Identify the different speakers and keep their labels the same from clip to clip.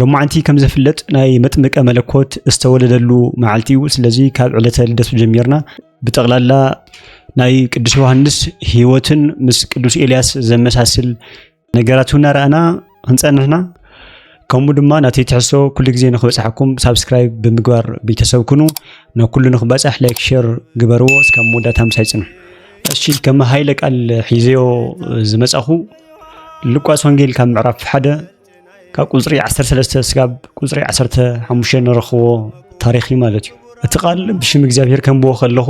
Speaker 1: ሎማዕንቲ ከም ዝፍለጥ ናይ መጥምቀ መለኮት ዝተወለደሉ መዓልቲ እዩ። ስለዚ ካብ ዕለተ ልደቱ ጀሚርና ብጠቕላላ ናይ ቅዱስ ዮሃንስ ህይወትን ምስ ቅዱስ ኤልያስ ዘመሳስል ነገራት እናረኣና ክንፀንሕና ከምኡ ድማ ናቲ ትሕሶ ኩሉ ግዜ ንክበፅሓኩም ሳብስክራይብ ብምግባር ቤተሰብ ኩኑ ንኩሉ ንክበፅሕ ላይክ ሸር ግበርዎ እስካብ መወዳእታ ምሳይ ፅንሑ እሺ ከም ሃይለ ቃል ሒዘዮ ዝመፃኹ ሉቃስ ወንጌል ካብ ምዕራፍ ሓደ ካብ ቁፅሪ ዓሰርተ ሰለስተ ስጋብ ቁፅሪ ዓሰርተ ሓሙሽተ ንረኽቦ ታሪኽ እዩ ማለት እዩ እቲ ቃል ብሽም እግዚኣብሔር ከንብቦ ከለኹ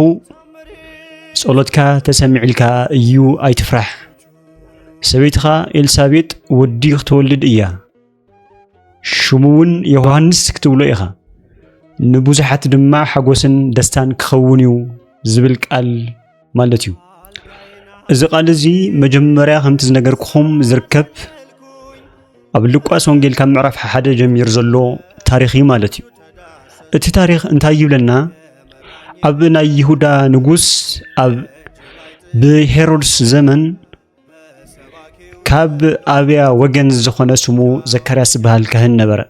Speaker 1: ጸሎትካ ተሰሚዕልካ እዩ ኣይትፍራሕ ሰበይትኻ ኤልሳቤጥ ወዲ ክትወልድ እያ ሽሙ እውን ዮሃንስ ክትብሎ ኢኻ ንብዙሓት ድማ ሓጎስን ደስታን ክኸውን እዩ ዝብል ቃል ማለት እዩ። እዚ ቃል እዚ መጀመርያ ከምቲ ዝነገርኩኹም ዝርከብ ኣብ ሉቃስ ወንጌል ካብ ምዕራፍ ሓደ ጀሚሩ ዘሎ ታሪኽ እዩ ማለት እዩ። እቲ ታሪኽ እንታይ ይብለና? ኣብ ናይ ይሁዳ ንጉስ ኣብ ብሄሮድስ ዘመን ካብ ኣብያ ወገን ዝኾነ ስሙ ዘካርያስ ዝበሃል ካህን ነበረ።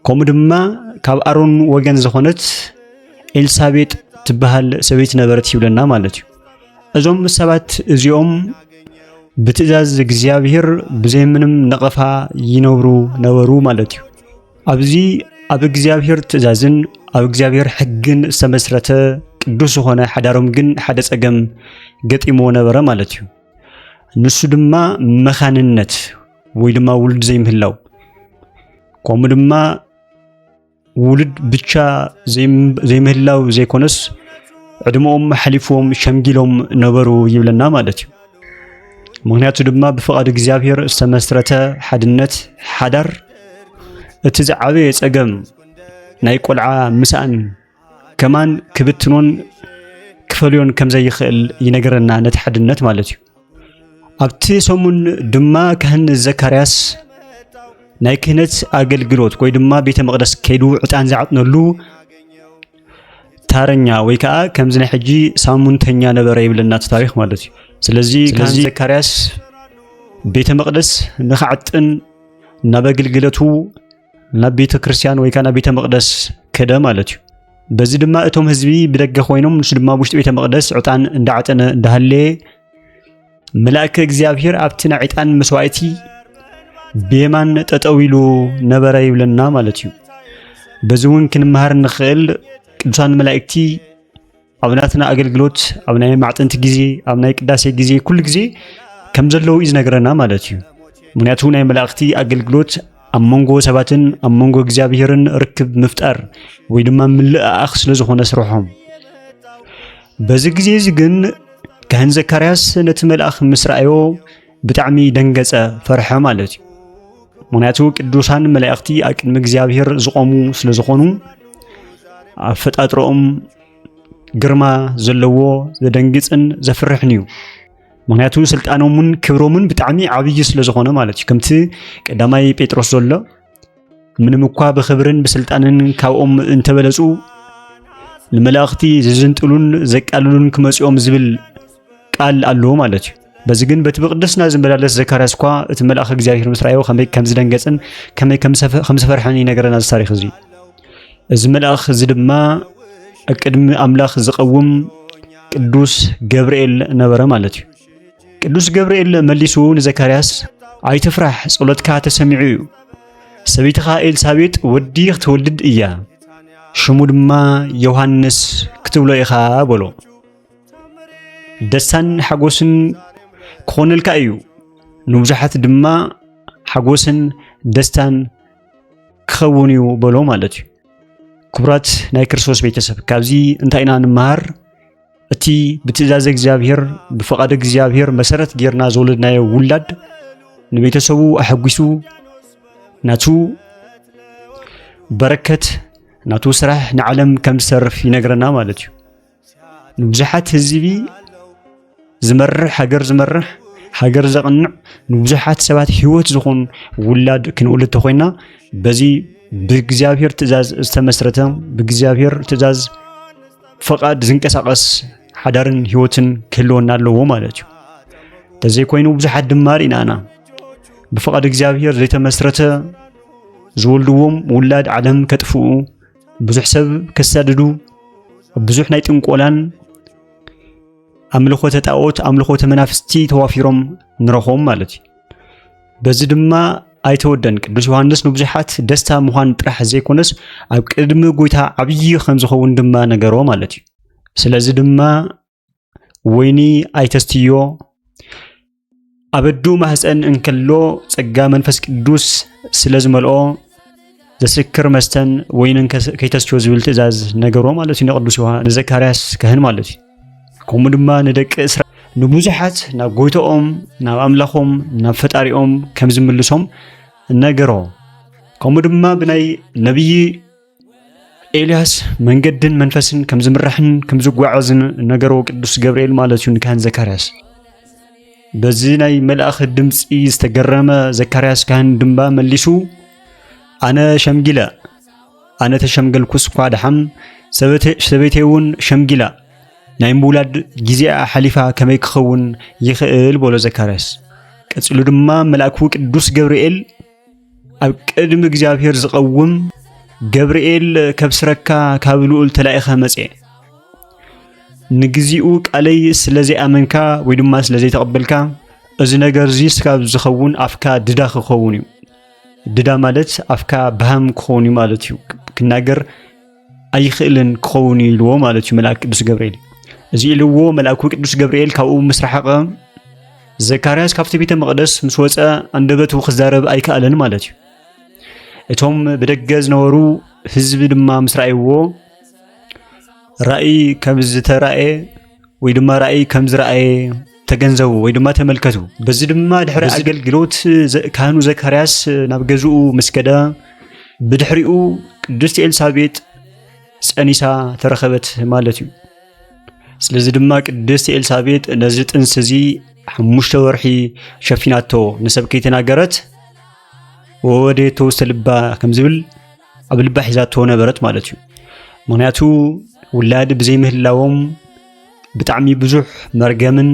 Speaker 1: ከምኡ ድማ ካብ ኣሮን ወገን ዝኾነት ኤልሳቤጥ ትበሃል ሰበይቲ ነበረት ይብለና ማለት እዩ። እዞም ሰባት እዚኦም ብትእዛዝ እግዚኣብሔር ብዘይምንም ነቐፋ ይነብሩ ነበሩ ማለት እዩ። ኣብዚ ኣብ እግዚኣብሔር ትእዛዝን ኣብ እግዚኣብሔር ሕግን ዝተመስረተ ቅዱስ ዝኾነ ሓዳሮም ግን ሓደ ጸገም ገጢምዎ ነበረ ማለት እዩ። ንሱ ድማ መኻንነት ወይ ድማ ውሉድ ዘይምህላው ከምኡ ድማ ውሉድ ብቻ ዘይምህላው ዘይኮነስ ዕድመኦም ሓሊፍዎም ሸምጊሎም ነበሩ ይብለና ማለት እዩ። ምክንያቱ ድማ ብፍቓድ እግዚኣብሔር ዝተመስረተ ሓድነት ሓዳር እቲ ዝዓበየ ጸገም ናይ ቆልዓ ምስኣን ከማን ክብትኖን ክፈልዮን ከም ዘይኽእል ይነገረና ነቲ ሓድነት ማለት እዩ ኣብቲ ሰሙን ድማ ካህን ዘካርያስ ናይ ክህነት ኣገልግሎት ወይ ድማ ቤተ መቕደስ ከይዱ ዕጣን ዝዓጥነሉ ታረኛ ወይ ከዓ ከምዚ ናይ ሕጂ ሳሙንተኛ ነበረ ይብለና እቲ ታሪክ ማለት እዩ ስለዚ ካህን ዘካርያስ ቤተ መቅደስ ንክዓጥን ናብ ኣገልግለቱ ናብ ቤተ ክርስቲያን ወይ ከዓ ናብ ቤተ መቅደስ ከደ ማለት እዩ በዚ ድማ እቶም ህዝቢ ብደገ ኮይኖም ንሱ ድማ ውሽጢ ቤተ መቅደስ ዕጣን እንዳዓጠነ እንዳሃለየ መልኣከ እግዚኣብሔር ኣብቲ ናይ ዕጣን መስዋእቲ ብየማን ጠጠው ኢሉ ነበረ ይብለና ማለት እዩ በዚ እውን ክንመሃር ንኽእል ቅዱሳን መላእክቲ ኣብ ናትና ኣገልግሎት ኣብ ናይ ማዕጠንቲ ግዜ ኣብ ናይ ቅዳሴ ግዜ ኩሉ ግዜ ከም ዘለዉ እዩ ዝነገረና ማለት እዩ ምክንያቱ ናይ መላእክቲ ኣገልግሎት ኣብ መንጎ ሰባትን ኣብ መንጎ እግዚኣብሔርን ርክብ ምፍጣር ወይ ድማ ምልእኣኽ ስለ ዝኾነ ስርሖም በዚ ግዜ እዚ ግን ካህን ዘካርያስ ነቲ መልኣኽ ምስ ረኣዮ ብጣዕሚ ደንገጸ፣ ፈርሐ ማለት እዩ። ምክንያቱ ቅዱሳን መላእኽቲ ኣብ ቅድሚ እግዚኣብሔር ዝቆሙ ስለ ዝኾኑ ኣፈጣጥሮኦም ግርማ ዘለዎ ዘደንግጽን ዘፍርሕን እዩ። ምክንያቱ ስልጣኖምን ክብሮምን ብጣዕሚ ዓብዪ ስለ ዝኾነ ማለት እዩ። ከምቲ ቀዳማይ ጴጥሮስ ዘሎ ምንም እኳ ብኽብርን ብስልጣንን ካብኦም እንተበለጹ ንመላእኽቲ ዝዝንጥሉን ዘቃልሉን ክመጽኦም ዝብል ቃል ኣለዎ ማለት እዩ በዚ ግን በቲ ብቅድስና ዝመላለስ ዘካርያስ እኳ እቲ መልኣኽ እግዚኣብሔር ምስ ረኣዮ ከመይ ከም ዝደንገጽን ከመይ ከም ዝፈርሐን ይነገረና እዚ ታሪክ እዚ እዚ መልኣኽ እዚ ድማ ቅድሚ ኣምላኽ ዝቐውም ቅዱስ ገብርኤል ነበረ ማለት እዩ ቅዱስ ገብርኤል መሊሱ ንዘካርያስ ኣይትፍራሕ፣ ጸሎትካ ተሰሚዑ እዩ። ሰበይትኻ ኤልሳቤጥ ወዲ ክትወልድ እያ፣ ሽሙ ድማ ዮሃንስ ክትብሎ ኢኻ በሎ። ደስታን ሓጎስን ክኾነልካ እዩ፣ ንብዙሓት ድማ ሓጎስን ደስታን ክኸውን እዩ በሎ ማለት እዩ። ክቡራት ናይ ክርስቶስ ቤተሰብ ካብዚ እንታይ ኢና ንመሃር? እቲ ብትእዛዘ እግዚኣብሔር ብፍቓድ እግዚኣብሔር መሰረት ጌርና ዝወለድናዮ ውላድ ንቤተሰቡ ኣሐጒሱ ናቱ በረከት ናቱ ስራሕ ንዓለም ከም ዝሰርፍ ይነግረና ማለት እዩ ንብዙሓት ህዝቢ ዝመርሕ ሃገር ዝመርሕ ሃገር ዘቕንዕ ንብዙሓት ሰባት ህይወት ዝኾኑ ውላድ ክንወልድ ተኮይና በዚ ብእግዚኣብሔር ትእዛዝ ዝተመስረተ ብእግዚኣብሔር ትእዛዝ ፈቓድ ዝንቀሳቐስ ሓዳርን ህይወትን ክህልወና ኣለዎ ማለት እዩ ተዘይኮይኑ ብዙሓት ድማ ርኢና ኢና ብፍቓድ እግዚኣብሄር ዘይተመስረተ ዝወልድዎም ውላድ ዓለም ከጥፍኡ ብዙሕ ሰብ ከሳድዱ ብዙሕ ናይ ጥንቆላን ኣምልኾተ ጣዖት ኣምልኾተ መናፍስቲ ተዋፊሮም ንረኽቦም ማለት እዩ በዚ ድማ ኣይተወደን ቅዱስ ዮሐንስ ንብዙሓት ደስታ ምዃን ጥራሕ ዘይኮነስ ኣብ ቅድሚ ጎይታ ዓብዪ ከም ዝኸውን ድማ ነገሮ ማለት እዩ። ስለዚ ድማ ወይኒ ኣይተስትዮ ኣብ ኣዱ ማህፀን እንከሎ ጸጋ መንፈስ ቅዱስ ስለ ዝመልኦ ዘስክር መስተን ወይንን ከይተስትዮ ዝብል ትእዛዝ ነገሮ ማለት እዩ ንቅዱስ ዮሐንስ ንዘካርያስ ካህን ማለት እዩ። ከምኡ ድማ ንደቂ እስራ ንብዙሓት ናብ ጎይታኦም ናብ ኣምላኾም ናብ ፈጣሪኦም ከም ዝምልሶም ነገሮ ከምኡ ድማ ብናይ ነብዪ ኤልያስ መንገድን መንፈስን ከም ዝምራሕን ከም ዝጓዓዝን ነገሮ ቅዱስ ገብርኤል ማለት እዩ ንካህን ዘካርያስ በዚ ናይ መልኣኽ ድምፂ ዝተገረመ ዘካርያስ ካህን ድማ መሊሱ ኣነ ሸምጊለ ኣነ ተሸምገልኩስ እኳ ደሓን ሰበይተይ እውን ሸምጊላ ናይ ምውላድ ግዜኣ ሓሊፋ ከመይ ክኸውን ይኽእል በሎ ዘካርያስ። ቀጺሉ ድማ መልኣኩ ቅዱስ ገብርኤል ኣብ ቅድሚ እግዚኣብሔር ዝቐውም ገብርኤል ከብስረካ ካብ ልኡል ተላኢኸ መጸ ንግዚኡ ቃለይ ስለ ዘይኣመንካ ወይ ድማ ስለ ዘይተቐበልካ እዚ ነገር እዚ ስካብ ዝኸውን ኣፍካ ድዳ ክኸውን እዩ ድዳ ማለት ኣፍካ ብሃም ክኸውን እዩ ማለት እዩ ክናገር ኣይኽእልን ክኸውን እዩ ኢልዎ ማለት እዩ መልኣክ ቅዱስ ገብርኤል እዚ ኢልዎ መልኣኩ ቅዱስ ገብርኤል ካብኡ ምስ ረሓቐ ዘካርያስ ካብቲ ቤተ መቕደስ ምስ ወፀ ኣንደበቱ ክዛረብ ኣይከኣለን ማለት እዩ እቶም ብደገ ዝነበሩ ህዝቢ ድማ ምስ ረኣይዎ ራእይ ከም ዝተራእየ ወይ ድማ ራእይ ከም ዝረኣየ ተገንዘቡ ወይ ድማ ተመልከቱ። በዚ ድማ ድሕሪ ኣገልግሎት ካህኑ ዘካርያስ ናብ ገዝኡ ምስ ከደ ብድሕሪኡ ቅድስቲ ኤልሳቤጥ ጸኒሳ ተረኸበት ማለት እዩ። ስለዚ ድማ ቅድስቲ ኤልሳቤጥ ነዚ ጥንስ እዚ ሓሙሽተ ወርሒ ሸፊናቶ ንሰብ ከይተናገረት ወወዴቶ ውስተ ልባ ከም ዝብል ኣብ ልባ ሒዛቶ ነበረት ማለት እዩ ምክንያቱ ውላድ ብዘይምህላዎም ብጣዕሚ ብዙሕ መርገምን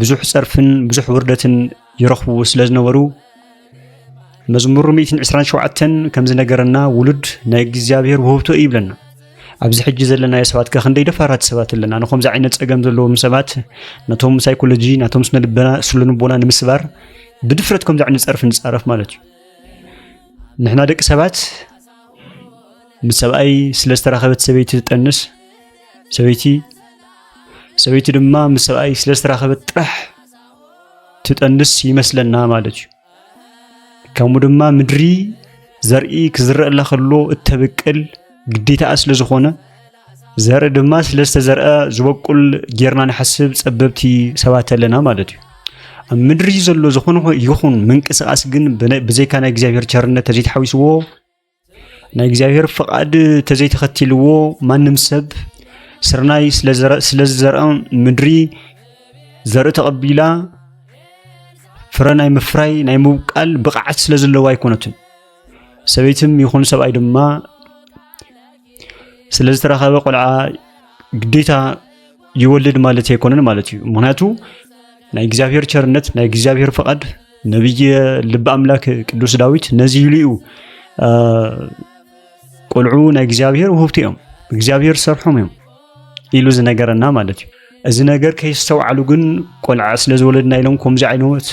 Speaker 1: ብዙሕ ፀርፍን ብዙሕ ውርደትን ይረኽቡ ስለ ዝነበሩ መዝሙር 127 ከምዚ ነገረና ውሉድ ናይ እግዚኣብሔር ውህብቶ እዩ ይብለና ኣብዚ ሕጂ ዘለናዮ ሰባት ከ ክንደይ ደፋራት ሰባት ኣለና ንከምዚ ዓይነት ፀገም ዘለዎም ሰባት ነቶም ሳይኮሎጂ ናቶም ስነ ልቦና ንምስባር ብድፍረት ከምዚ ዓይነት ፀርፊ ንፃረፍ ማለት እዩ ንሕና ደቂ ሰባት ምስ ሰብኣይ ስለ ዝተራኸበት ሰበይቲ ትጠንስ ሰበይቲ ሰበይቲ ድማ ምስ ሰብኣይ ስለ ዝተራኸበት ጥራሕ ትጠንስ ይመስለና ማለት እዩ። ከምኡ ድማ ምድሪ ዘርኢ ክዝረአላ ከሎ እተብቅል ግዴታኣ ስለ ዝኾነ ዘርኢ ድማ ስለ ዝተዘርአ ዝበቁል ጌርና ንሓስብ ጸበብቲ ሰባት ኣለና ማለት እዩ ኣብ ምድሪ ዘሎ ዝኾነ ይኹን ምንቅስቓስ ግን ብዘይካ ናይ እግዚኣብሔር ቸርነት ተዘይተሓዊስዎ ናይ እግዚኣብሔር ፍቓድ ተዘይተኸቲልዎ ማንም ሰብ ስርናይ ስለ ዝዘርአ ምድሪ ዘርኢ ተቐቢላ ፍረ ናይ ምፍራይ ናይ ምብቃል ብቕዓት ስለ ዘለዎ ኣይኮነትን ሰበይትም ይኹን ሰብኣይ ድማ ስለ ዝተረኸበ ቆልዓ ግዴታ ይወልድ ማለት ኣይኮነን ማለት እዩ። ምክንያቱ ናይ እግዚኣብሔር ቸርነት ናይ እግዚኣብሔር ፈቃድ ነብይ ልቢ ኣምላክ ቅዱስ ዳዊት ነዚ ኢሉ እዩ ቆልዑ ናይ እግዚኣብሔር ውህብቲ እዮም እግዚኣብሔር ሰርሖም እዮም ኢሉ ዝነገረና ማለት እዩ። እዚ ነገር ከይስተውዓሉ ግን ቆልዓ ስለ ዝወለድና ኢሎም ከምዚ ዓይነት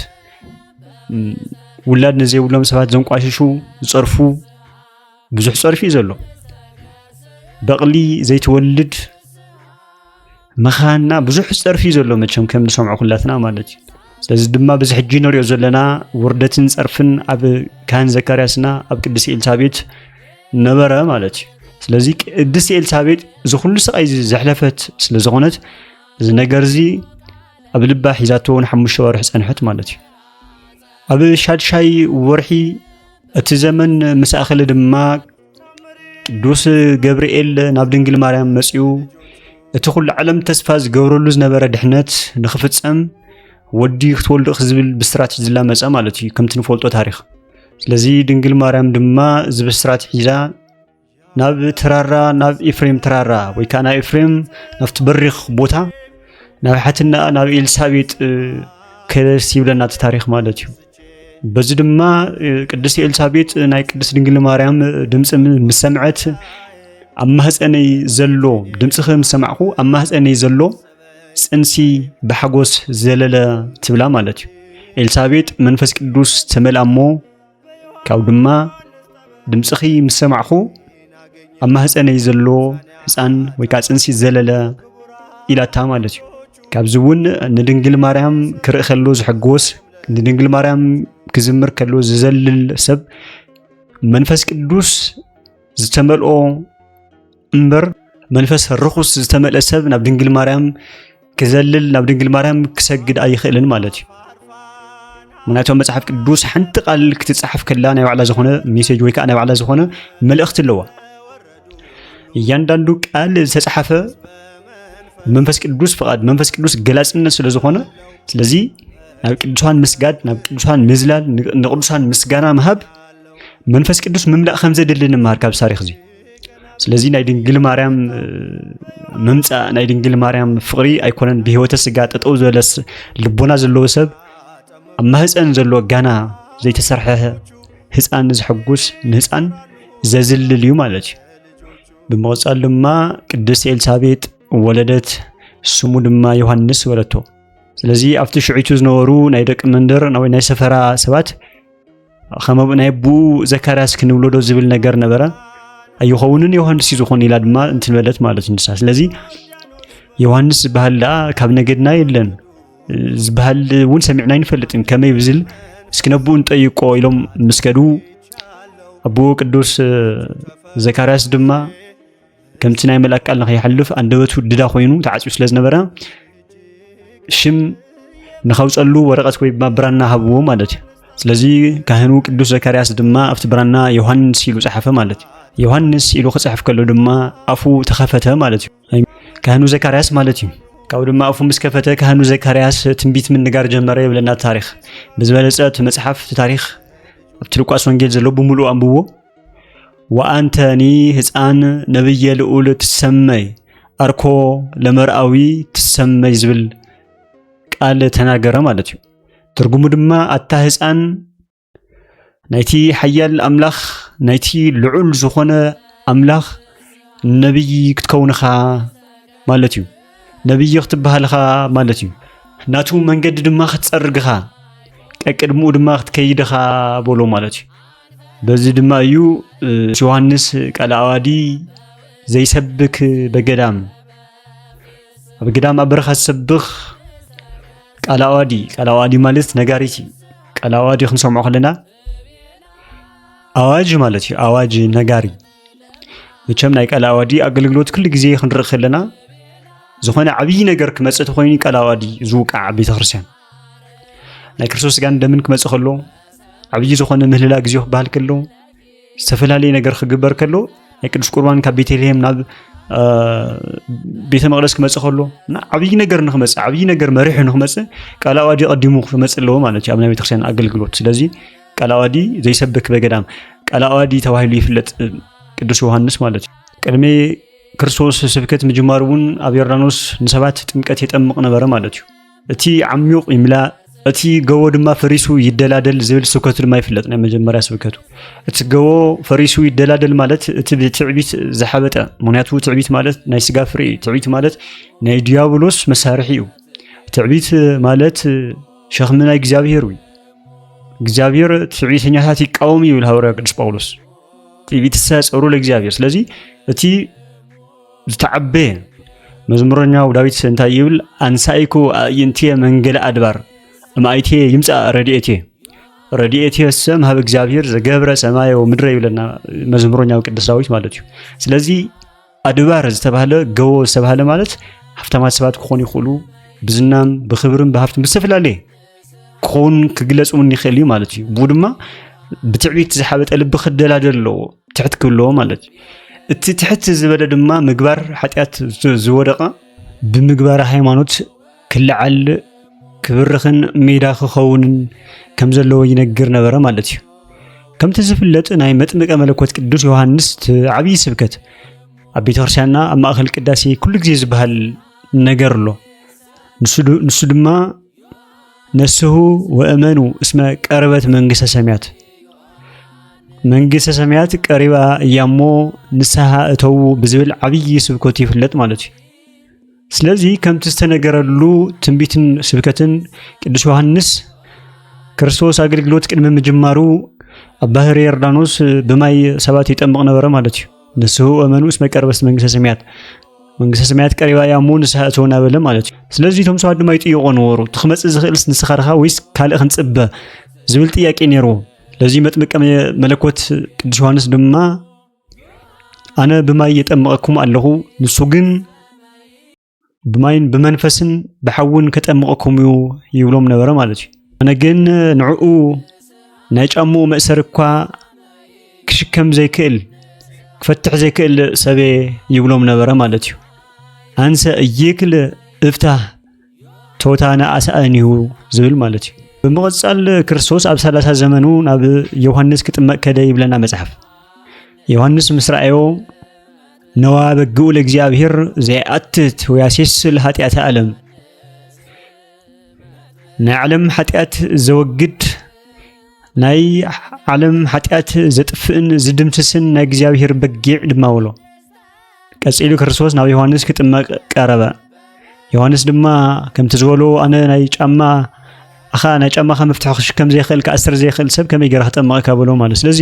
Speaker 1: ውላድ ንዘይብሎም ሰባት ዘንቋሽሹ ዝፀርፉ ብዙሕ ፀርፊ እዩ ዘሎ በቕሊ ዘይትወልድ ምኻና ብዙሕ ፀርፊ እዩ ዘሎ መቸም ከም ንሰምዖ ኩላትና ማለት እዩ ስለዚ ድማ በዚ ሕጂ ንሪኦ ዘለና ውርደትን ፀርፍን ኣብ ካህን ዘካርያስና ኣብ ቅድስቲ ኤልሳቤት ነበረ ማለት እዩ ስለዚ ቅድስቲ ኤልሳቤጥ እዚ ኩሉ ስቃይ እዚ ዘሕለፈት ስለ ዝኾነት እዚ ነገር እዚ ኣብ ልባ ሒዛቶ ንሓሙሽተ ወርሒ ፀንሐት ማለት እዩ ኣብ ሻድሻይ ወርሒ እቲ ዘመን ምስ ኣኸለ ድማ ቅዱስ ገብርኤል ናብ ድንግል ማርያም መጺኡ እቲ ኩሉ ዓለም ተስፋ ዝገብረሉ ዝነበረ ድሕነት ንኽፍጸም ወዲ ክትወልዱ ዝብል ብስራት ሒዝላ መጸ ማለት እዩ ከምቲ ንፈልጦ ታሪኽ ስለዚ ድንግል ማርያም ድማ እዚ ብስራት ሒዛ ናብ ትራራ ናብ ኤፍሬም ትራራ ወይ ከዓ ናብ ኤፍሬም ናብቲ በሪኽ ቦታ ናብ ሓትና ናብ ኤልሳቤጥ ከለስ ይብለና እቲ ታሪክ ማለት እዩ በዚ ድማ ቅድስቲ ኤልሳቤጥ ናይ ቅድስት ድንግል ማርያም ድምፂ ምስ ሰምዐት ኣብ ማህፀነይ ዘሎ ድምፅኺ ምስ ሰማዕኹ ኣብ ማህፀነይ ዘሎ ፅንሲ ብሓጎስ ዘለለ ትብላ ማለት እዩ ኤልሳቤጥ መንፈስ ቅዱስ ተመልኣ እሞ ካብኡ ድማ ድምፅኺ ምስ ሰማዕኹ ኣብ ማህፀነይ ዘሎ ህፃን ወይ ከዓ ፅንሲ ዘለለ ኢላታ ማለት እዩ ካብዚ እውን ንድንግል ማርያም ክርኢ ከሎ ዝሕጎስ ንድንግል ማርያም ክዝምር ከሎ ዝዘልል ሰብ መንፈስ ቅዱስ ዝተመልኦ እምበር መንፈስ ርኹስ ዝተመልአ ሰብ ናብ ድንግል ማርያም ክዘልል ናብ ድንግል ማርያም ክሰግድ ኣይኽእልን ማለት እዩ ምክንያቱ መፅሓፍ ቅዱስ ሓንቲ ቃል ክትፅሓፍ ከላ ናይ ባዕላ ዝኾነ ሜሴጅ ወይ ከዓ ናይ ባዕላ ዝኾነ መልእኽቲ ኣለዋ እያንዳንዱ ቃል ዝተፅሓፈ መንፈስ ቅዱስ ፍቓድ መንፈስ ቅዱስ ገላፅነት ስለ ዝኾነ ስለዚ ናብ ቅዱሳን ምስጋድ ናብ ቅዱሳን ምዝላል ንቅዱሳን ምስጋና ምሃብ መንፈስ ቅዱስ ምምላእ ከም ዘድሊ ንመሃር ካብዚ ታሪክ እዚ ስለዚ ናይ ድንግል ማርያም ምምፃእ ናይ ድንግል ማርያም ፍቕሪ ኣይኮነን ብህይወተ ስጋ ጠጠው ዝበለ ልቦና ዘለዎ ሰብ ኣብ ማህፀን ዘሎ ጋና ዘይተሰርሐ ህፃን ንዝሐጉስ ንህፃን ዘዝልል እዩ ማለት እዩ። ብምቕፃል ድማ ቅድስቲ ኤልሳቤጥ ወለደት፣ ስሙ ድማ ዮሃንስ በለቶ። ስለዚ ኣብቲ ሽዒቱ ዝነበሩ ናይ ደቂ መንደር ናይ ሰፈራ ሰባት ከመ ናይ ኣቦኡ ዘካርያስ ክንብሎዶ ዝብል ነገር ነበረ ኣይኸውንን ዮሃንስ እዩ ዝኾን ኢላ ድማ እንትንበለት ማለት ንሳ ስለዚ ዮሃንስ ዝበሃል ደኣ ካብ ነገድና የለን ዝበሃል እውን ሰሚዕና ኣይንፈልጥን ከመይ ብዝል እስኪ ነብኡ ንጠይቆ ኢሎም ምስ ከዱ ኣቦኡ ቅዱስ ዘካርያስ ድማ ከምቲ ናይ መልኣክ ቃል ንኸይሓልፍ ኣንደበቱ ድዳ ኮይኑ ተዓፅዩ ስለ ዝነበረ ሽም ንኸውፀሉ ወረቐት ወይ ድማ ብራና ሃብዎ ማለት እዩ ስለዚ ካህኑ ቅዱስ ዘካርያስ ድማ ኣብቲ ብራና ዮሃንስ ኢሉ ፀሓፈ ማለት እዩ ዮሃንስ ኢሉ ክፅሕፍ ከሎ ድማ ኣፉ ተኸፈተ ማለት እዩ ካህኑ ዘካርያስ ማለት እዩ ካብኡ ድማ ኣፉ ምስ ከፈተ ካህኑ ዘካርያስ ትንቢት ምንጋር ጀመረ የብለና ታሪክ ብዝበለፀ እቲ መፅሓፍ እቲ ታሪክ ኣብቲ ሉቃስ ወንጌል ዘሎ ብምሉእ ኣንብዎ ወአንተኒ ህፃን ነብየ ልዑል ትሰመይ አርኮ ለመርአዊ ትሰመይ ዝብል ቃል ተናገረ ማለት እዩ። ትርጉሙ ድማ ኣታ ህፃን ናይቲ ሓያል ኣምላኽ ናይቲ ልዑል ዝኾነ ኣምላኽ ነብይ ክትከውንኻ ማለት እዩ። ነብይ ክትበሃልኻ ማለት እዩ። ናቱ መንገዲ ድማ ክትፀርግኻ ቀቅድምኡ ድማ ክትከይድኻ በሎ ማለት እዩ። በዚ ድማ እዩ ዮሐንስ ቀላዋዲ ዘይሰብክ በገዳም ኣብ ገዳም ኣብ በረኻ ዝሰብኽ ቀላዋዲ ቀላዋዲ ማለት ነጋሪት እዩ። ቀላዋዲ ክንሰምዖ ከለና ኣዋጅ ማለት እዩ። ኣዋጅ ነጋሪ መቸም ናይ ቀላዋዲ ኣገልግሎት ኩሉ ግዜ ክንርኢ ከለና ዝኾነ ዓብዪ ነገር ክመፅእ ተኮይኑ ቀላዋዲ ዝውቃዕ ቤተክርስትያን ናይ ክርስቶስ ስጋን ደምን ክመፅእ ከሎ ዓብዪ ዝኾነ ምህልላ ግዜ ክበሃል ከሎ ዝተፈላለየ ነገር ክግበር ከሎ ናይ ቅዱስ ቁርባን ካብ ቤተልሔም ናብ ቤተ መቅደስ ክመፅእ ከሎ እና ዓብዪ ነገር ንክመፅእ ዓብዪ ነገር መሪሑ ንክመፅእ ቃል ኣዋዲ ቀዲሙ ክመፅእ ኣለዎ ማለት እዩ ኣብ ናይ ቤተክርስትያን ኣገልግሎት ስለዚ ቃል ኣዋዲ ዘይሰብክ በገዳም ቃል ኣዋዲ ተባሂሉ ይፍለጥ ቅዱስ ዮሃንስ ማለት እዩ ቅድሚ ክርስቶስ ስብከት ምጅማሩ እውን ኣብ ዮርዳኖስ ንሰባት ጥምቀት የጠምቕ ነበረ ማለት እዩ እቲ ዓሚቕ ይምላእ እቲ ገቦ ድማ ፈሪሱ ይደላደል ዝብል ስብከቱ ድማ ይፍለጥ ናይ መጀመርያ ስብከቱ እቲ ገቦ ፈሪሱ ይደላደል ማለት እቲ ብትዕቢት ዝሓበጠ ምክንያቱ ትዕቢት ማለት ናይ ስጋ ፍሬ እዩ ትዕቢት ማለት ናይ ዲያብሎስ መሳርሒ እዩ ትዕቢት ማለት ሸኽሚ ናይ እግዚኣብሄር እዩ እግዚኣብሄር ትዕቢተኛታት ይቃወም ይብል ሃዋርያ ቅዱስ ጳውሎስ ትዕቢትሰ ጸሩ ለእግዚኣብሄር ስለዚ እቲ ዝተዓበየ መዝሙረኛው ዳዊት እንታይ ይብል? ኣንሳኢኩ ኣእይንትየ መንገለ ኣድባር እምኣይትየ ይምፃእ ረድኤትየ ረድኤትየ ሰም ሀብ እግዚኣብሔር ዘገብረ ሰማየ ወምድረ ይብለና መዝሙረኛው ቅዱስ ዳዊት ማለት እዩ። ስለዚ ኣድባር ዝተባህለ ገቦ ዝተባህለ ማለት ሃብታማት ሰባት ክኾኑ ይኽእሉ ብዝናም ብክብርን ብሃብትን ብዝተፈላለየ ክኸውን ክግለፅ እውን ይኽእል እዩ ማለት እዩ ብኡ ድማ ብትዕቢት ዝሓበጠ ልቢ ክደላደል ኣለዎ ትሕት ክብለዎ ማለት እዩ እቲ ትሕት ዝበለ ድማ ምግባር ሓጢኣት ዝወደቐ ብምግባር ሃይማኖት ክልዓል ክብርኽን ሜዳ ክኸውንን ከም ዘለዎ ይነግር ነበረ ማለት እዩ ከምቲ ዝፍለጥ ናይ መጥምቀ መለኮት ቅዱስ ዮሃንስ ዓብዪ ስብከት ኣብ ቤተ ክርስቲያንና ኣብ ማእኸል ቅዳሴ ኩሉ ግዜ ዝበሃል ነገር ኣሎ ንሱ ድማ ነስሑ ወእመኑ እስመ ቀረበት መንግስተ ሰማያት መንግስተ ሰማያት ቀሪባ እያሞ ንስሓ እተዉ ብዝብል ዓብዪ ስብከቱ ይፍለጥ ማለት እዩ። ስለዚ ከምቲ ዝተነገረሉ ትንቢትን ስብከትን ቅዱስ ዮሐንስ ክርስቶስ ኣገልግሎት ቅድሚ ምጅማሩ ኣብ ባህር ዮርዳኖስ ብማይ ሰባት ይጠምቕ ነበረ ማለት እዩ። ንስሑ እመኑ እስመ ቀርበስት መንግስተ ሰማያት መንግስተ ሰማያት ቀሪባ እያ እሞ ንስሓ እቶ እናበለ ማለት እዩ ስለዚ እቶም ሰባት ድማ ይጥይቆ ነበሩ እቲ ክመፅእ ዝኽእልስ ንስኻ ርኻ ወይስ ካልእ ክንፅበ ዝብል ጥያቄ ነይርዎም ለዚ መጥምቀ መለኮት ቅዱስ ዮሃንስ ድማ ኣነ ብማይ የጠምቐኩም ኣለኹ ንሱ ግን ብማይን ብመንፈስን ብሓውን ከጠምቐኩም እዩ ይብሎም ነበረ ማለት እዩ ኣነ ግን ንዕኡ ናይ ጫምኡ መእሰሪ እኳ ክሽከም ዘይክእል ክፈትሕ ዘይክእል ሰበ ይብሎም ነበረ ማለት እዩ ኣንሰ እይክል እፍታህ ቶታ ንኣስኣን እዩ ዝብል ማለት እዩ ብምቕፃል ክርስቶስ ኣብ ሰላሳ ዘመኑ ናብ ዮሃንስ ክጥመቅ ከደ ይብለና መፅሓፍ ዮሃንስ ምስ ረኣዮ ነዋ በግኡ ለእግዚኣብሔር ዘይኣትት ወያሴስል ኃጢአተ ዓለም ናይ ዓለም ኃጢአት ዘወግድ ናይ ዓለም ኃጢአት ዘጥፍእን ዝድምስስን ናይ እግዚኣብሔር በጊዕ ድማ ውሎ ቀጺሉ ክርስቶስ ናብ ዮሐንስ ክጥመቅ ቀረበ። ዮሐንስ ድማ ከምቲ ዝበሎ ኣነ ናይ ጫማ ኣኻ ናይ ጫማኻ መፍትሒ ክሽከም ዘይኽእል ክኣስር ዘይኽእል ሰብ ከመይ ገይረ ክጠመቐካ በሎ ማለት ስለዚ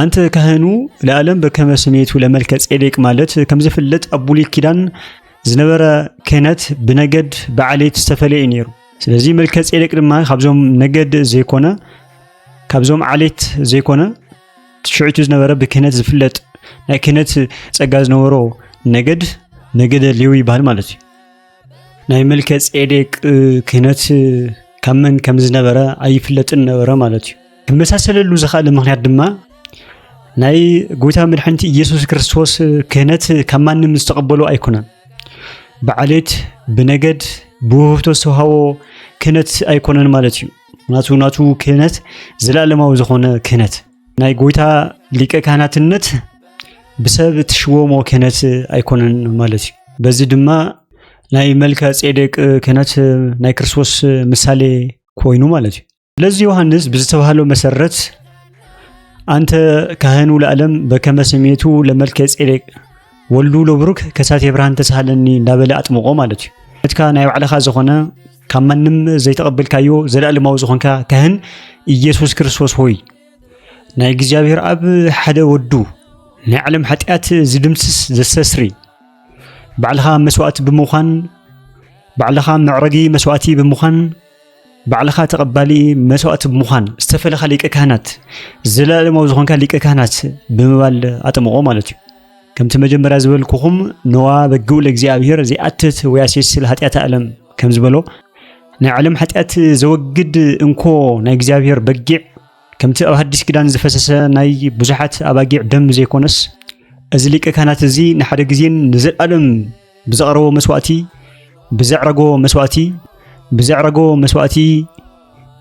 Speaker 1: ኣንተ ካህኑ ለኣለም በከመ ስሜቱ ለመልከ ጼዴቅ ማለት ከም ዝፍለጥ ኣብ ብሉይ ኪዳን ዝነበረ ክህነት ብነገድ ብዓሌት ዝተፈለየ እዩ ነይሩ። ስለዚ መልከ ጼዴቅ ድማ ካብዞም ነገድ ዘይኮነ ካብዞም ዓሌት ዘይኮነ ሽዑቱ ዝነበረ ብክህነት ዝፍለጥ ናይ ክህነት ጸጋ ዝነበሮ ነገድ ነገደ ሌዊ ይበሃል ማለት እዩ። ናይ መልከ ጼዴቅ ክህነት ካብ መን ከም ዝነበረ ኣይፍለጥን ነበረ ማለት እዩ ክመሳሰለሉ ዝኽኣለ ምክንያት ድማ ናይ ጎይታ መድሓኒት ኢየሱስ ክርስቶስ ክህነት ካብ ማንም ዝተቐበሎ ኣይኮነን ብዓሌት ብነገድ ብውህብቶ ዝተውሃቦ ክህነት ኣይኮነን ማለት እዩ ናቱ ናቱ ክህነት ዘለኣለማዊ ዝኾነ ክህነት ናይ ጎይታ ሊቀ ካህናትነት ብሰብ እትሽወሞ ክህነት ኣይኮነን ማለት እዩ በዚ ድማ ናይ መልከ ጼዴቅ ክህነት ናይ ክርስቶስ ምሳሌ ኮይኑ ማለት እዩ ስለዚ ዮሐንስ ብዝተባህለው መሰረት አንተ ካህኑ ለዓለም በከመ ስሜቱ ለመልከ ጼዴቅ ወልዱ ለብሩክ ከሳቴ ብርሃን ተሳሃለኒ እንዳበለ ኣጥምቆ ማለት እዩ ነትካ ናይ ባዕልኻ ዝኾነ ካብ ማንም ዘይተቐበልካዮ ዘለኣለማዊ ዝኾንካ ካህን ኢየሱስ ክርስቶስ ሆይ ናይ እግዚኣብሔር ኣብ ሓደ ወዱ ናይ ዓለም ሓጢኣት ዝድምስስ ዘሰስሪ ባዕልኻ መስዋእቲ ብምዃን ባዕልኻ መዕረጊ መስዋእቲ ብምዃን ባዕልኻ ተቐባሊ መስዋእቲ ብምዃን ዝተፈለኻ ሊቀ ካህናት ዘለኣለማዊ ዝኾንካ ሊቀ ካህናት ብምባል ኣጠምቖ ማለት እዩ ከምቲ መጀመርያ ዝበልኩኹም ነዋ በግኡ ለእግዚኣብሔር ዘይኣትት ወያሴስል ሃጢኣት ኣለም ከም ዝበሎ ናይ ዓለም ሓጢኣት ዘወግድ እንኮ ናይ እግዚኣብሔር በጊዕ ከምቲ ኣብ ሓዲስ ኪዳን ዝፈሰሰ ናይ ብዙሓት ኣባጊዕ ደም ዘይኮነስ እዚ ሊቀ ካህናት እዚ ንሓደ ግዜን ንዘለኣለም ብዘቕረቦ መስዋእቲ ብዘዕረጎ መስዋእቲ ብዘዕረጎ መስዋእቲ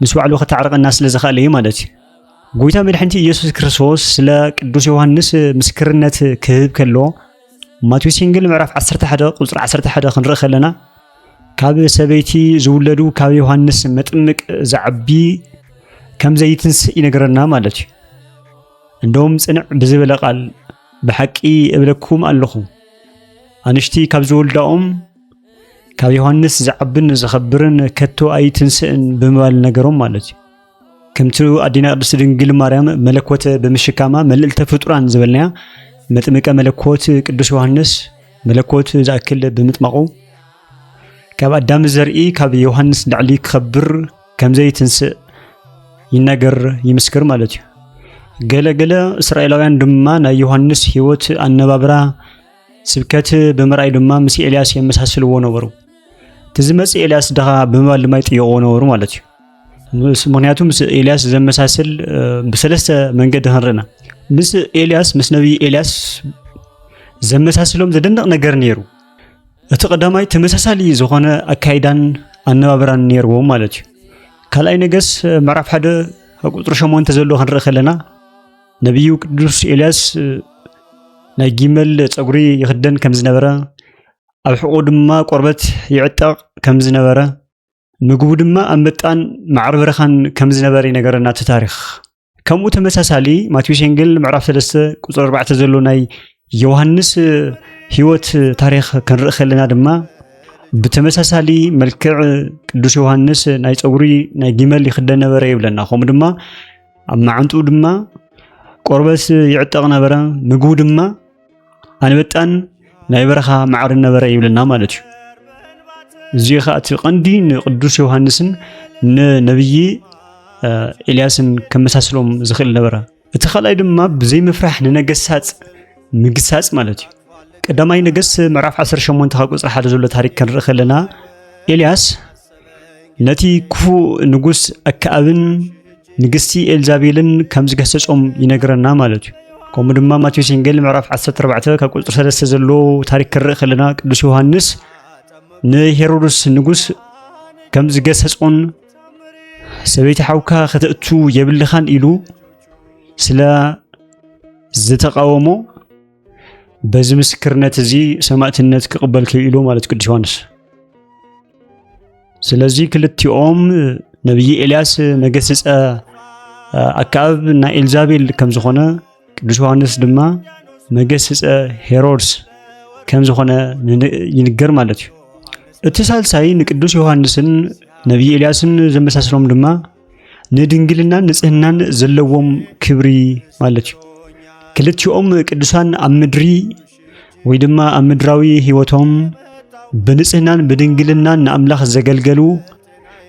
Speaker 1: ምስ ባዕሉ ከተዕርቐና ስለ ዝኽኣለ እዩ ማለት እዩ ጎይታ መድሕንቲ ኢየሱስ ክርስቶስ ስለ ቅዱስ ዮሐንስ ምስክርነት ክህብ ከሎ ማቴዎስ ወንጌል ምዕራፍ 11 ቁጽሪ 11 ክንርኢ ከለና ካብ ሰበይቲ ዝውለዱ ካብ ዮሃንስ መጥምቅ ዝዓቢ ከም ዘይትንስእ ይነግረና ማለት እዩ እንደውም ጽንዕ ብዝበለ ቃል ብሓቂ እብለኩም ኣለኹ ኣንሽቲ ካብ ዝወልዳኦም ካብ ዮሃንስ ዝዓብን ዝኸብርን ከቶ ኣይትንስእን ብምባል ነገሮም ማለት እዩ ከምቲ ኣዴና ቅድስቲ ድንግል ማርያም መለኮት ብምሽካማ መልእልተ ፍጡራን ዝበልናያ መጥምቀ መለኮት ቅዱስ ዮሐንስ መለኮት ዝኣክል ብምጥማቑ ካብ ኣዳም ዘርኢ ካብ ዮሃንስ ንላዕሊ ክኸብር ከምዘይ ትንስእ ይነገር ይምስክር ማለት እዩ። ገለ ገለ እስራኤላውያን ድማ ናይ ዮሃንስ ህይወት ኣነባብራ ስብከት ብምርኣይ ድማ ምስ ኤልያስ የመሳስልዎ ነበሩ። እቲ ዝመጽእ ኤልያስ ድኻ ብምባል ድማ ይጥይቕዎ ነበሩ ማለት እዩ። ምክንያቱ ምስ ኤልያስ ዘመሳስል ብሰለስተ መንገዲ ክንርኢና ምስ ኤልያስ ምስ ነቢይ ኤልያስ ዘመሳስሎም ዘደንቕ ነገር ነይሩ። እቲ ቀዳማይ ተመሳሳሊ ዝኾነ ኣካይዳን ኣነባብራን ነይርዎም ማለት እዩ። ካልኣይ ነገስ ምዕራፍ ሓደ ቁፅሪ ሸሞንተ ዘሎ ክንርኢ ከለና ነቢዩ ቅዱስ ኤልያስ ናይ ጊመል ፀጉሪ ይኽደን ከም ዝነበረ ኣብ ሕቑ ድማ ቆርበት ይዕጠቕ ከም ዝነበረ ምግቡ ድማ ኣብ ምጣን ማዕረ በረኻን ከም ዝነበረ ይነገረና እቲ ታሪኽ ከምኡ ተመሳሳሊ ማቴዎስ ወንጌል ምዕራፍ 3 ቁፅሪ 4 ዘሎ ናይ ዮሃንስ ህይወት ታሪክ ክንርኢ ከለና ድማ ብተመሳሳሊ መልክዕ ቅዱስ ዮሃንስ ናይ ፀጉሪ ናይ ጊመል ይክደ ነበረ ይብለና ከምኡ ድማ ኣብ መዓንጥኡ ድማ ቆርበት ይዕጠቕ ነበረ ምግቡ ድማ ኣንበጣን ናይ በረኻ ማዕርን ነበረ ይብለና ማለት እዩ። እዚ ኸኣ እቲ ቀንዲ ንቅዱስ ዮሃንስን ንነብዪ ኤልያስን ከመሳስሎም ዝኽእል ነበረ። እቲ ካልኣይ ድማ ብዘይ ምፍራሕ ንነገሳጽ ምግሳጽ ማለት እዩ። ቀዳማይ ነገስ ምዕራፍ 18 ካብ ቁጽሪ ሓደ ዘሎ ታሪክ ክንርኢ ከለና ኤልያስ ነቲ ክፉእ ንጉስ ኣከኣብን ንግስቲ ኤልዛቤልን ከም ዝገሰጾም ይነግረና ማለት እዩ ከምኡ ድማ ማቴዎስ ወንጌል ምዕራፍ 14 ካብ ቁፅሪ 3 ዘሎ ታሪክ ክርኢ ከለና ቅዱስ ዮሃንስ ንሄሮድስ ንጉስ ከም ዝገሰጾን ሰበይቲ ሓውካ ከተእቱ የብልኻን ኢሉ ስለ ዝተቃወሞ በዚ ምስክርነት እዚ ሰማእትነት ክቕበል ክኢሉ ማለት ቅዱስ ዮሐንስ። ስለዚ ክልቲኦም ነብይ ኤልያስ መገስጸ ኣካብ ናይ ኤልዛቤል ከም ዝኾነ ቅዱስ ዮሐንስ ድማ መገስጸ ሄሮድስ ከም ዝኾነ ይንገር ማለት እዩ። እቲ ሳልሳይ ንቅዱስ ዮሐንስን ነብይ ኤልያስን ዘመሳስሎም ድማ ንድንግልናን ንጽህናን ዘለዎም ክብሪ ማለት እዩ ክልቲኦም ቅዱሳን ኣብ ምድሪ ወይ ድማ ኣብ ምድራዊ ህይወቶም ብንጽህናን ብድንግልናን ንኣምላኽ ዘገልገሉ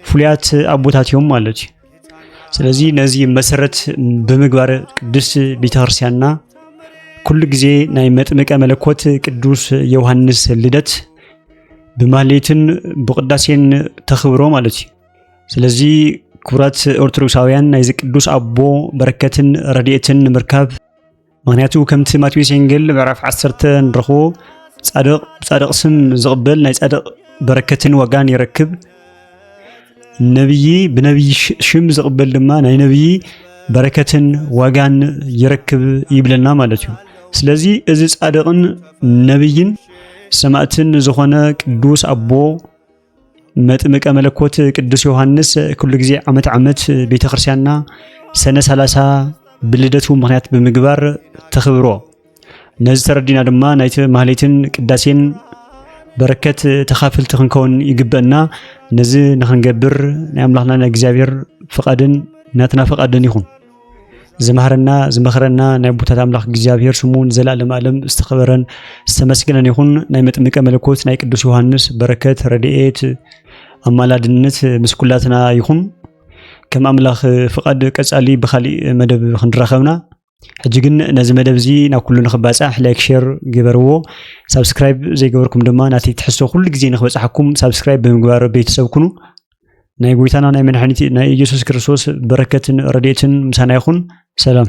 Speaker 1: ፍሉያት ኣቦታት እዮም ማለት እዩ። ስለዚ ነዚ መሰረት ብምግባር ቅድስት ቤተ ክርስቲያንና ኩሉ ግዜ ናይ መጥምቀ መለኮት ቅዱስ ዮሐንስ ልደት ብማህሌትን ብቅዳሴን ተኽብሮ ማለት እዩ። ስለዚ ክቡራት ኦርቶዶክሳውያን ናይዚ ቅዱስ ኣቦ በረከትን ረድኤትን ንምርካብ ምክንያቱ ከምቲ ማቴዎስ ወንጌል ምዕራፍ 10 ንረኽቦ ጻድቕ ብጻድቕ ስም ዝቕበል ናይ ጻድቕ በረከትን ዋጋን ይረክብ ነብዪ ብነብዪ ሽም ዝቕበል ድማ ናይ ነብዪ በረከትን ዋጋን ይረክብ ይብለና ማለት እዩ ስለዚ እዚ ጻድቕን ነብይን ሰማእትን ዝኾነ ቅዱስ ኣቦ መጥምቀ መለኮት ቅዱስ ዮሐንስ ኩሉ ጊዜ ዓመት ዓመት ቤተ ክርስቲያንና ሰነ 30 ብልደቱ ምክንያት ብምግባር ተኽብሮ ነዚ ተረዲና ድማ ናይቲ ማህሌትን ቅዳሴን በረከት ተኻፍልቲ ክንከውን ይግበአና ነዚ ንክንገብር ናይ ኣምላኽና ናይ እግዚኣብሔር ፍቓድን ናትና ፍቓድን ይኹን ዝማህረና ዝመኽረና ናይ ኣቦታት ኣምላኽ እግዚኣብሔር ስሙ ንዘላለም ኣለም ዝተኸበረን ዝተመስገነን ይኹን። ናይ መጥምቀ መለኮት ናይ ቅዱስ ዮሐንስ በረከት ረድኤት ኣማላድነት ምስ ኩላትና ይኹን። ከም ኣምላኽ ፍቃድ ቀጻሊ ብካሊእ መደብ ክንራኸብና ሕጂ ግን ነዚ መደብ እዚ ናብ ኩሉ ንክባጻሕ ላይክ ሼር ግበርዎ። ሳብስክራይብ ዘይገበርኩም ድማ ናተይ ትሕዝቶ ኩሉ ግዜ ንክበጽሓኩም ሳብስክራይብ ብምግባር ቤተሰብ ኩኑ። ናይ ጎይታና ናይ መድሓኒት ናይ ኢየሱስ ክርስቶስ በረከትን ረድኤትን ምሳና ይኹን። ሰላም